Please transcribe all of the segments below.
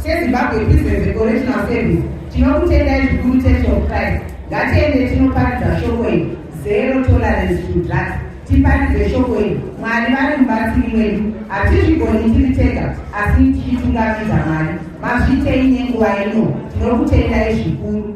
sezimbabwe business recorrectional service tinokutendai zvikuru church of christ ngatiende tinoparidza shoko iri zero tolerance to drugs tiparidze shoko iri mwari vari mubatsiri mwedu hatizvigoni tiri tega asi tichitungamidza mwari mazvitei nenguva ino tinokutendai zvikuru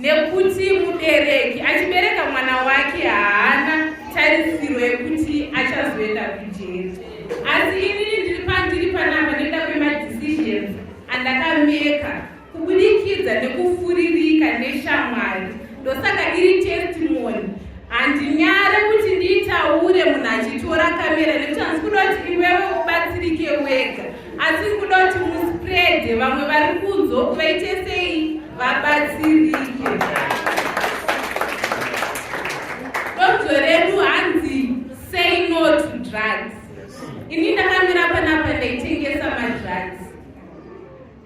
Nekuti mubereki achibereka mwana wake haana tarisiro yekuti achazoenda kujeri. Asi inini ndiri pandiri panapa nekuda kwemadecisions andakameka kubudikidza nekufuririka neshamwari ndosaka iri testimony handinyare kuti ndiitaure munhu achitora kamera nekuti handisi kuda kuti iwewe ubatsirike wega asi kuda kuti muspread vamwe vari kunzwa kuti vaite sei vabatsirike donzvo redu hanzi say no to drugs ini ndakamira panapa ndaitengesa madrugs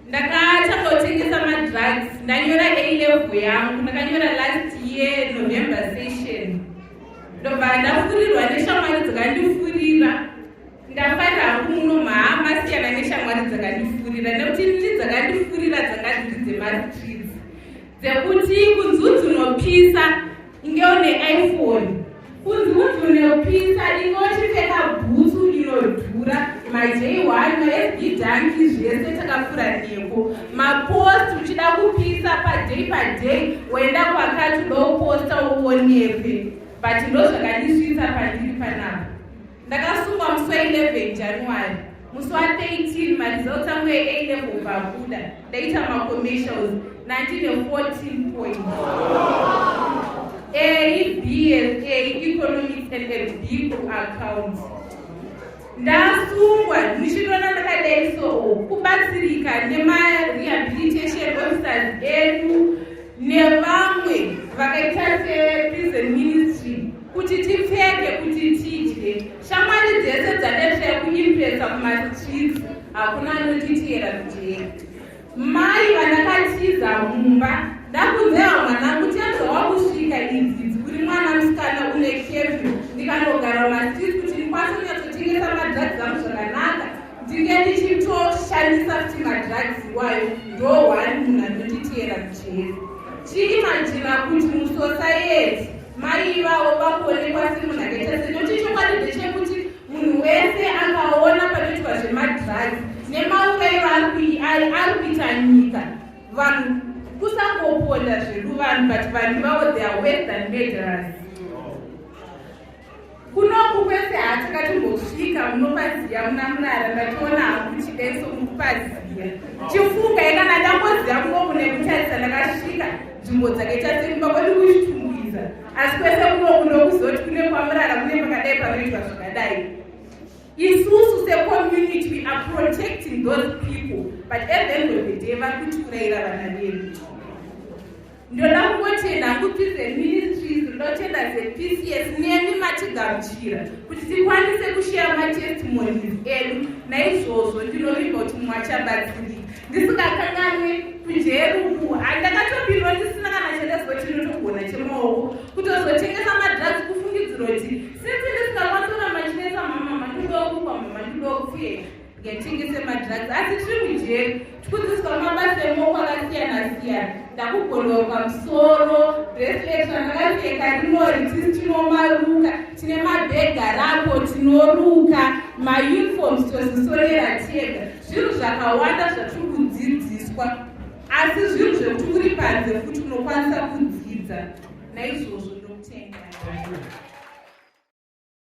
ndakatanga kutengesa madrugs ndanyora alevel yangu ndakanyora last year november session ndobva ndafurirwa neshamwari dzakandifurira Ndafarira hangu muno maa masiyana neshamwari dzakandifurira nekuti nini dzakandifurira dzanga dziri dzemaritridzi dzekuti kunzi unzi unopisa inge une iphone kunzi unzi unopisa inge uchipfeka bhutsu inodhura majei one masd danki zvese takafura neko mapost uchida kupisa padei padei woenda kwakati udoposta uonepe but ndozvakandisvitsa pandiri panapa Ndakasungwa musi wa 11 January. Musi wa 13 maresults angu e A level bvabuda. Ndaita ma commercials 1914 point. A BSA economics and a B accounts. Ndasungwa ndichidona ndakadai so kubatsirika nema rehabilitation officers edu nevamwe vakaita se prison ministry kuti tipfeke kuti tidye shamwari dzese dzadesvira kuimpresa mumastreets hakuna anotitiyera kujeri mai vandakatiza mumba ndakunzewa mwanangu tiazowa kusvika idzi dzikuri mwana musikana une kevyu ndikanogara mumastreets kuti ndikwanise kunyatsotengesa madzadzizamu zvakanaka ndinge ndichitoshandisa kuti madrugs iwayo ndo one munhu anonditiyera mujeri chiimajina kuti musosayeti maivawo vakuonekwa semunhu akaita se nokuti chokwadi ndechekuti munhu wese akaona panoitwa zvemadrugs nemaurairo ari kuita nyika vanhu kusangoponda zvedu vanhu but vanhu vavo they are wes than murderers kunoku kwese hatakatimbosvika munopaziya muna murara ndationa hakuchidenso mukupaziya chifunga yekana ndamboziya kunoku nekutarisa ndakasvika nzvimbo dzake tasemba kwedu kuchitumbuiza asi kwese kunoku ndokuzoti kune kwamurara kune pakadai panoitwa zvakadai isusu secommunity we are protecting those people but at the end of the day vari kutiurayira vana vedu ndoda kungotenda hangu tuze ministries ndotenda zepcs nemi matigamuchira kuti tikwanise kusheya matestimonies edu naizvozvo ndinoviga kuti mumwe achabatsirika ndisingakanganwe kunjeruku handakatopindwa ndisina kana chandazwa chinotogona chemaoko kutozotengesa madrugs kufungidziro kuti since ndisingakwanisa kuti machinesa mamama ndidokukwa mama ndidokufuyeka Ngatengese madrugs asi tiri mujeri tikudzidziswa mabasa emoko akasiyana siyana ndakugondwa pamusoro bracelet randakapfeka rinori tisi tinomaruka tine mabhega rapo tinoruka mauniforms tozisonera tega zvinhu zvakawanda zvatiri kudzidziswa asi zvinhu zvekuti uri panze futi unokwanisa kudzidza naizvozvo ndokutenga